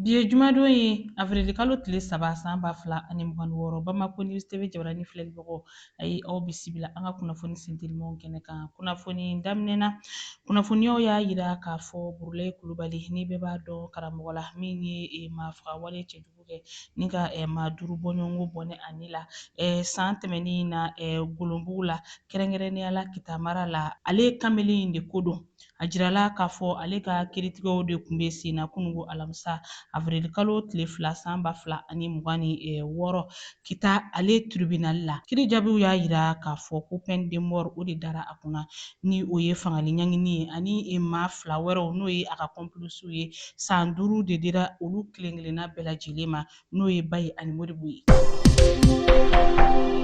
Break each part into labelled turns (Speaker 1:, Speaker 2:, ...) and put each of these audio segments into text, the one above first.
Speaker 1: Bi ye jumadon ye avirilikalo tile saba san ba fila ani mugan ni wɔɔrɔ Bamako News TV jabaranin filɛlibagaw a ye aw bisimila an ka kunnafoni sentelimanw kɛnɛ kan. Kunnafoni daminɛ na, kunnafoniyaw y'a jira k'a fɔ Burulayi Kulubali ni bɛɛ b'a dɔn karamɔgɔ la min ye eh, maafagawale cɛjugu kɛ ni ka eh, maa duuru bɔɲɔgɔnko bɔnɛ a ni la eh, san tɛmɛnen in na eh, Golonbugu la, kɛrɛnkɛrɛnnenya la Kita mara la. Ale kamalen in de ko don A jirala k'a fɔ ale ka kiiritigɛw de tun bɛ sen na kununko alamisa avirilikalo tile fila san ba fila ani mugan ni eh, wɔɔrɔ Kita ale tiribinali la kiiri jaabiw y'a jira k'a fɔ ko peine de mort o de dara a kunna ni o ye fagali ɲangini ye ani eh, maa fila wɛrɛw n'o ye a ka kɔnpilisiw ye san duuru de dira olu kelen kelenna bɛɛ lajɛlen ma n'o ye Bayi ani Modibo ye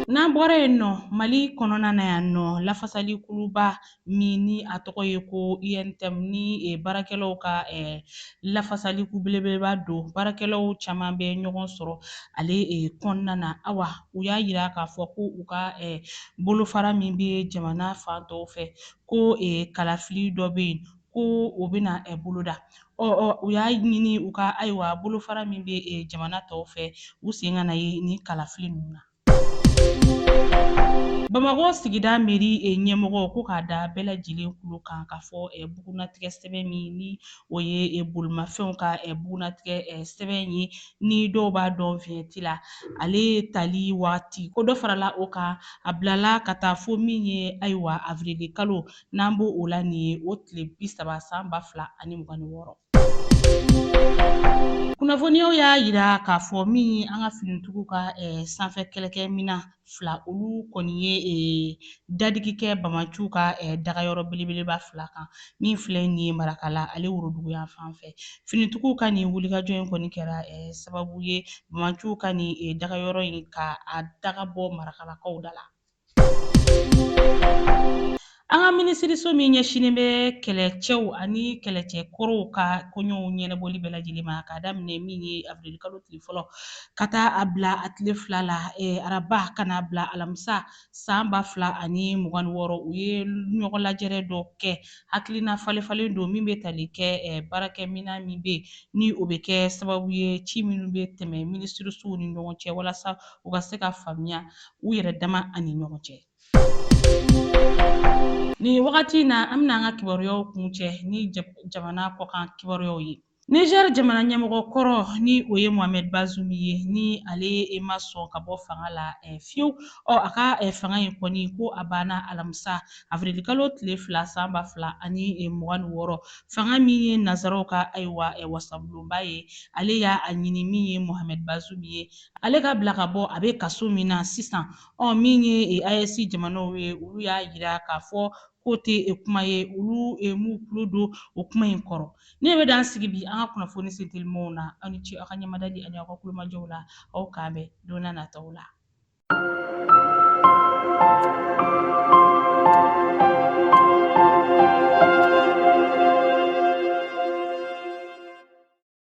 Speaker 1: N'an bɔra yen nɔ, Mali kɔnɔna na yan nɔ, lafasali kuluba min ni a tɔgɔ ye ko UNTM ni eh, baarakɛlaw ka eh, lafasalikulu belebeleba don baarakɛlaw caman bɛ ɲɔgɔn sɔrɔ ale eh, kɔnɔna na awa u y'a jira k'a fɔ ko u ka eh, bolofara min bɛ jamana fan tɔw fɛ ko eh, kalafili dɔ bɛ yen ko o bɛna eh, boloda ɔ ɔ u y'a ɲini u ka ayiwa bolofara min bɛ eh, jamana tɔw fɛ u sen kana ye nin kalafili ninnu na Bamakɔ sigida mɛri ɲɛmɔgɔ ko k'a da bɛɛ lajɛlen kulo kan k'a fɔ bugunnatigɛ sɛbɛn min ni o ye e bolimafɛnw ka bugunnatigɛ sɛbɛn ye ni dɔw b'a dɔn viɲɛti la ale tali waati ko dɔ farala o kan a bilala ka taa fo min ye ayiwa avirilikalo n'an b' o la nin ye o tile bi saba san ba fila ani mugan ni wɔɔrɔ Kunnafoniyaw y'a jira k'a fɔ min ye an ka finitigiw ka eh, sanfɛ kɛlɛkɛminan fila olu kɔni ye eh, dadigi kɛ bamaciw ka eh, dagayɔrɔ belebeleba fila kan min filɛ nin ye Marakala ale woroduguyanfan fɛ finitigiw ka nin wulikajɔ in kɔni kɛra sababu ye bamaciw ka nin dagayɔrɔ in ka a daga bɔ Marakalakaw da la An ka minisiriso min ɲɛsinnen bɛ kɛlɛcɛw ani kɛlɛcɛ kɔrɔw ka koɲɛw ɲɛnabɔli bɛɛ lajɛlen ma k'a daminɛ min ye avirilikalo tile fɔlɔ ka taa a bila a tile fila la araba ka n'a bila alamisa san ba fila ani mugan ni wɔɔrɔ u ye ɲɔgɔn lajɛrɛ dɔ kɛ hakilina falefalen don min bɛ tali kɛ baarakɛminan min bɛ yen ni o bɛ kɛ sababu ye ci minnu bɛ tɛmɛ minisirisow ni ɲɔgɔn cɛ walasa u ka se ka faamuya u yɛrɛ dama ani ɲɔgɔn cɛ nin wagati in na an bɛna an ka kibaruyaw kuncɛ ni jamana kɔkan kibaruyaw ye Niger jamana ɲɛmɔgɔ kɔrɔ ni o ye Mohamed Bazoum ye ni ale e ma sɔn ka bɔ fanga la eh, fiyewu a ka eh, fanga in kɔni ko a banna alamisa avirilikalo tile fila san ba fila ani eh, mugan ni wɔɔrɔ fanga min ye nazaraw ka ayiwa wasabulonba ye ale y'a a ɲini min ye Mohamed Bazoum ye ale ka bila ka bɔ a bɛ kaso min na sisan ɔ min ye AES jamanaw ye olu y'a yira k'a fɔ k'o tɛ e, kuma ye olu e, m'u tulo don o kuma in kɔrɔ ne bɛ dan sigi bi an ka kunnafoni sentelimanw na aw ni ce aw ka ɲɛmadali ani aw ka tulomajɔw la aw k'an bɛn don na nataw la